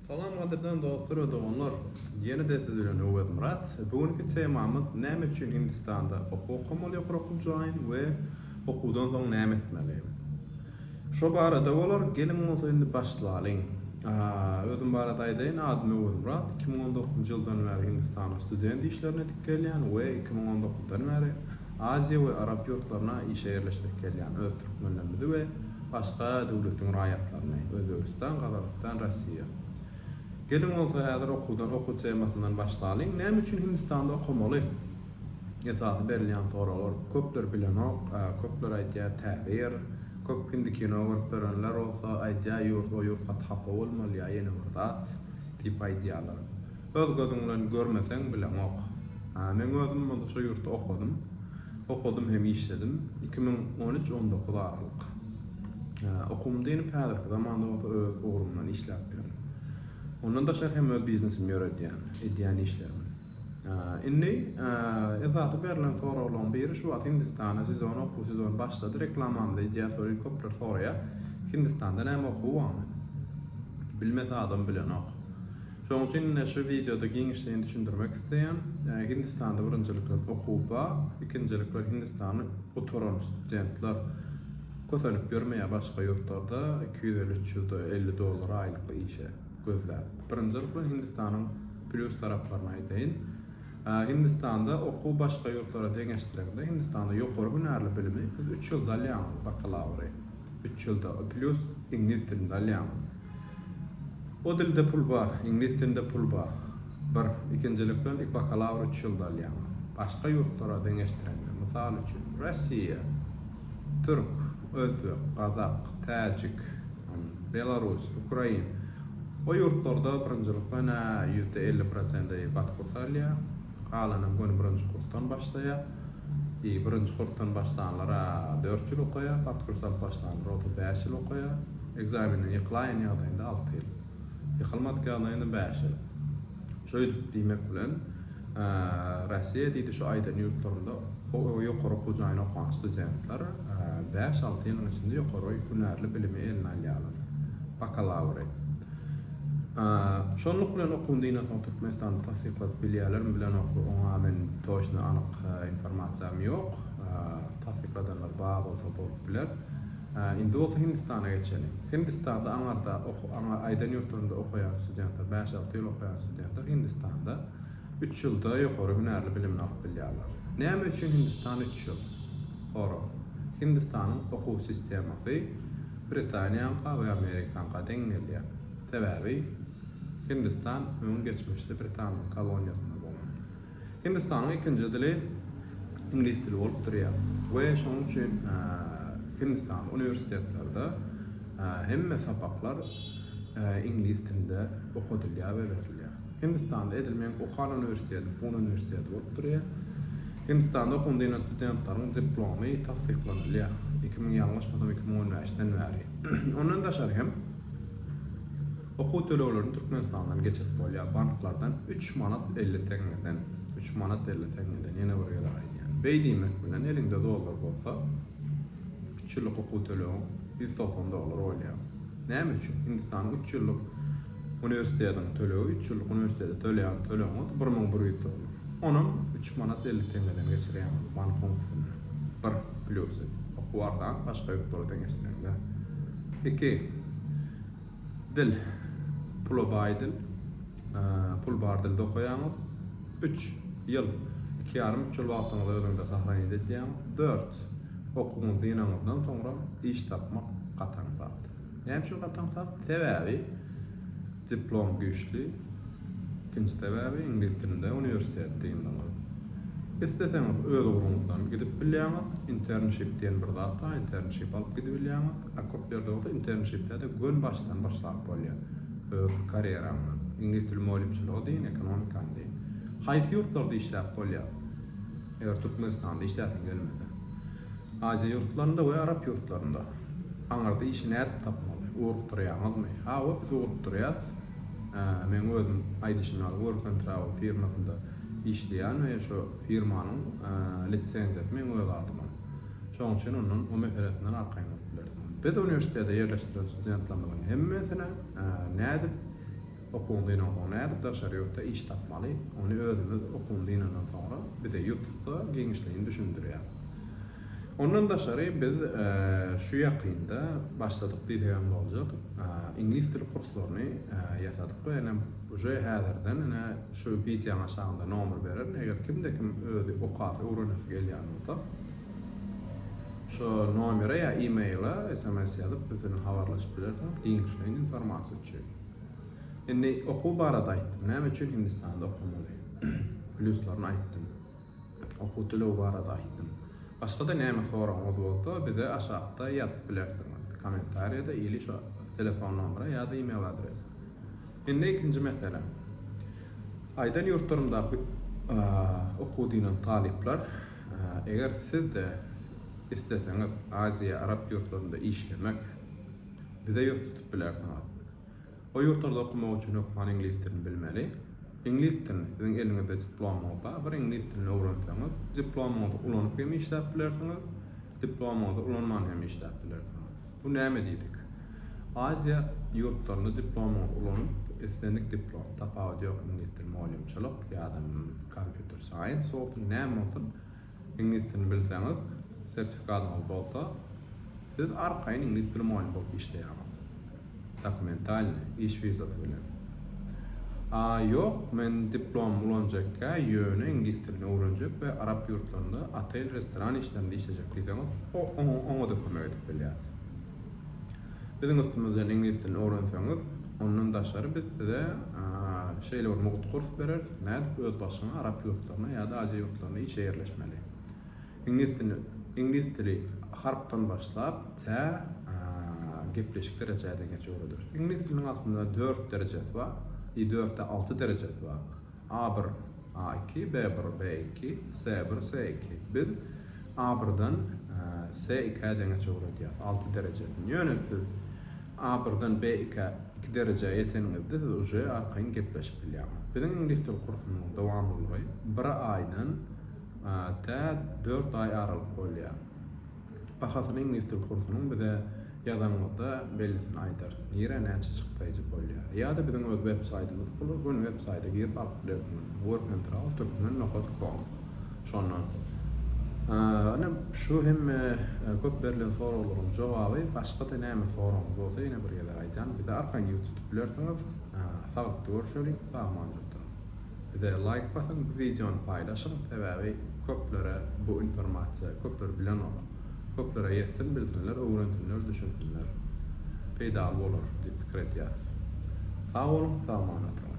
Salam gadyrdan dostlar we doganlar! Ýene-de siz bilen Öwezmyrat. Bu günki temamyz Näme üçin Hindistanda okuw okamaly ýokary okuw jaýyn we okuwdan soň näme etmeli? Şo barada bolar. Geliň bolsa indi başlalyň. Özüm barada aýdaýyn, adym Öwezmyrat. Iki müň on dokuzynjy ýyldan bäri Hindistana student işlerine edip gelýän we iki müň on dokuzdan bäri Aziýa we Arap ýurtlaryna işe ýerleşdirip gelýän öz türkmenlerimizi we Başga döwletiň raýatlaryny, Özbegistan, Gazagystan, Rossiýa. Geliň bolsa häzir okuwdan, okuw temasyndan başlalyň. Näme üçin Hindistanda okamaly? Esasy berilýän soraglar. Köpler bilenok, köpler aýdýar täze ýer. Köp hindi kino görüp ýörenler bolsa aýdýar ýurt, o ýurt gaty hapa bolmaly ýa ýene bir zat diýip aýdýarlar. Öz gözüň bilen görmeseň bileňok. Men özüm bolsa şu ýurtda okadym. Okadym hem işledim. Iki müň on üç on dokuz aralyk. Okuwymy dynip häzirki zamanda bolsa öz ugrumdan işläp ýörün. Ondan daşary hem öz biznesimi ýöredýän, edýän işlerim. Indi esasy berlen soraglaryň biri şu wagt Hindistana sezon okuw sezony başlady reklamamyzy edýäs şol ýyl köpler soraýar. Hindistanda näme okuw barmy? Bilmese adam bilenok. Şonuň üçin ine şu wideoda giňişleýin düşündirmek isleýän. Hindistanda birinjilikler okuwba, ikinjilikler Hindistany gutaran studentler kösenip ýörmeýär başga ýurtlarda iki ýüz elli, üç ýüz elli dollar aýlykly işe gözläp. Birinjilik bilen Hindistanyň plýus taraplaryny aýdaýyn. Hindistanda okuw başga ýurtlara deňeşdireňde Hindistanda ýokary hünärli bilimi siz üç ýylda alýaňyz, bakalawry üç ýylda, plýus iňlis dilinde alýaňyz. O dilde pul ba, iňlis dilinde pul ba, bir, ikinjilik bilen ik bakalawr üç ýylda alýaň. Başga ýurtlara deňeşdirende, mysal üçin, Rossiýa, türk, özbek, gazak, täjik, an, belarus, ukrain, o ýurtlarda birinjilik bilen-ä ýüzde elli prosent-eý bat kursy alýar, Galanam göni birinji kursdan başlaýar. Ýe, birinji kursdan başlanlar-a dört ýyl okaýar, hat kurs alyp başlanlar otuz bäş ýyl okaýar. Ekzamenden ýykylaýan ýagdaýynda alty ýyl. Ýykylmadyk ýagdaýynda bäş ýyl. Şeýdip diýmek bilen, Russiýa diýdi şu aýdan ýurtlarynda ýokary okuw jaýyna okan studentler bäş-alty ýylyň içinde ýokary hünärli bilimi eline alýarlar. Bakalawry. Şonluk bilen okuwyny diýen soň Türkmenistanda tassykladyp bilýärlermi bilenokmy oňa men toçny anyk informasiýam ýok. Tassykladanlar bar bolsa bolup biler. Indi bolsa Hindistana geçeli. Hindistanda aňarda oku aňa aýdan ýurtlarynda okaýan studentler, 5-6 ýyl okaýan studentler Hindistanda 3 ýylda ýokary hünärli bilimini alyp bilýärler. Näme üçin Hindistan 3 ýyl? Sorag. Hindistanyň okuw sistemasy Britaniýaňka we Amerikaňka deň gelýär. Sebäbi Hindistan öň geçmişde Britanyň koloniýasynda bolan. Hindistanyň ikinji dili iňlis dili bolup durýar we şonuň üçin Hindistan uniwersitetlerde hemme sapaklar iňlis dilinde okadylýar we berilýär. Hindistanda edil meniň okan uniwersitetim Pune uniwersiteti bolup durýar. Hindistanda okuwyny dynýan studentlaryň diplomy tassyklanylýar. Iki müň, ýalňyşmasam, iki müň on bäşden bäri. Ondan daşary hem okuw töleglerini Türkmenistandan geçirip bolýar, banklardan üç manat elli teňňeden. Üç manat elli teňňeden, ýene bir gezek aýdýan. Beý diýmek bilen, eliňde dollar bolsa, üç ýyllyk okuw tölegiň ýüz togsan dollar bolýar. Näme üçin? Hindistanyň üç ýyllyk uniwersitetiň tölegi, üç ýyllyk uniwersitete töleýän tölegiňiz bir müň bir ýüz dollar. Onam üç manat elli teňňeden geçirýäňiz bankyň üstüne. Bir plýusy. Okuw arzan, başga ýurtlara deňeşdireňde. Iki. Dil. Pula baý dil. pul bar dilde okaýaňyz. Üç ýyl, iki ýarym, üç ýyl wagtyňyzy özüňde sahranit edýäň. Dört, okuwyňyzy dynaňyzdan soňra iş tapmak gatan zat. Näme üçin gatan zat? Sebäbi diplom güýçli, ikinji sebäbi iňlis dilinde uniwersitet dyndyňyz. Isleseňiz öz ugruňyzdan gidip bilýäňiz, internship diýen bir zat bar, internship alyp gidibilýäňiz, a köp ýerde bolsa internshipde-de gönbaşdan başlap bolýar. Öz karýeraňdan. Iňlis dili mugallymçylygy deýin, ekonomikany deýin. Haýsy ýurtlarda işläp bolýar? Eger Türkmenistanda işläsiň gelmese. Aziýa ýurtlarynda we arap ýurtlarynda. Aňyrda işi nädip tapmaly? Ugrukdyrýaňyzmy? Hawa, biz ugrukdyrýas. Meň özüm aýdyşym ýaly Work and Travel firmasynda işleýän we şo firmanyň lisenziýasy meň öz adyma. Şonuň üçin ondan o meselesinden arkaýyn bolup bilersiň. Biz uniwersitete ýerleşdiren studentlerimiziň hemmesine nädip okuwyňy dynansoň, nädip daşary ýurtda iş tapmaly, ony özümiz okuwyny dynandan soňra bize ýutussa giňişleýin düşündirýäris. Ondan daşary biz şu ýakynda başladyk diýsegem boljak, iňlis dili kurslaryny ýasadyk we ene Uje häzirden ine şu wideoň aşagynda nomer bererin eger kimde kim özi okasy öwrenesi gelýän bolsa şo nomere ýa emaila sms ýazyp biz bilen habarlaşyp bilersiňiz giňişleýin informasiýa üçin. Indi okuw barada aýtdym näme üçin hindistanda okamaly plýuslaryny aýtdym. Okuw töleg barada aýtdym. Başgada näme soragyňyz bolsa bize aşakda ýazyp bilersiňiz, kommentariýada ili şo telefon nomera ýa-da email adresa. Indi ikinji mesele. Aýdan ýurtlarymdaky okuw diýlen talyplar eger sizde isleseňiz Aziýa, Arap ýurtlarynda işlemek bize ýüz tutup bilersiňiz. O ýurtlarda okamak üçin hökman iňlis dilini bilmeli. Iňlis dilini, siziň eliňizde diplomyňyz bar, bir iňlis dilini öwrenseňiz, diplomyňyzy ulanyp hem işläp bilersiňiz, diplomyňyzy ulanman hem işläp bilersiňiz. Bu näme diýdik? Aziýa ýurtlarynda diplomyňyzy ulanyp, islendik diplom, tapawudy ýok, iňlis dili, mugallymçylyk ýa-da kompýuter saýens bolsun, näme bolsun, Iňlis dilini bilseňiz, sertifikatyňyz bolsa, siz arkaýyn iňlis dili mugallym bolup işleýärsiňiz. Dokumentalny, iş wizasy bilen. A ýok, men diplomymy ulanjakkä, ýöne iňlis dilini öwrenjek we arap ýurtlarynda otel-restoran işlerinde işlejek diýseňiz, o-oňa-da kömek edip bilýäris. Biziň üstümizden iňlis dilini öwrenseňiz, ondan daşary biz size şeýle bir mugt kurs bereris, nädip öz başyňa arap ýurtlaryna ýa-da aziýa ýurtlaryna işe ýerleşmeli. Iňlis dilini, iňlis dili harpdan başlap, tä gepleşik derejädegeçe öwrederis. Iňlis diliniň aslynda dört derejesi bar, i dörtde alty derejesi bar. A-bir, A-iki, B-bir, B-iki, C-bir, C-iki. Biz A-birden C-ikä deňeç öwredýäs, alty derejesini. Ýöne siz A-birden B-ikä iki derejä ýeteniňizde siz uje arkaýyn gepleşip bilýäňiz. Biziň iňlis dil kursumyzyň dowamlylygy bir aýdan tä dört aý aralyk bolýar. Bahasyny iňlis dil kursunyň bize ýazanyňyzda bellisini aýdarys. Nirä näçe çykdaýjy bolýar. Ýa-da biziň öz web saýtymyz bula göni web saýta girip alyp bilersiňiz. Workandtrawl turkmen nokat kom. Şondan. Ine şu hemme köp berlen soraglaryň jogaby. Başgada näme soragyňyz bolsa ýene bir gezek aýdýan bize arkangiz tutup bilersiňiz. Saglyk görüşeliň. Sag aman duruň. Bize laýk basyň bu wideony paýlaşyň sebäbi köplere bu informasiýa köpler bilenok. Köplere ýetsin bilsinler öwrensinler düşünsinler. Peýdaly bolar diýip pikir edýäs. Sag boluň sag aman oturyň.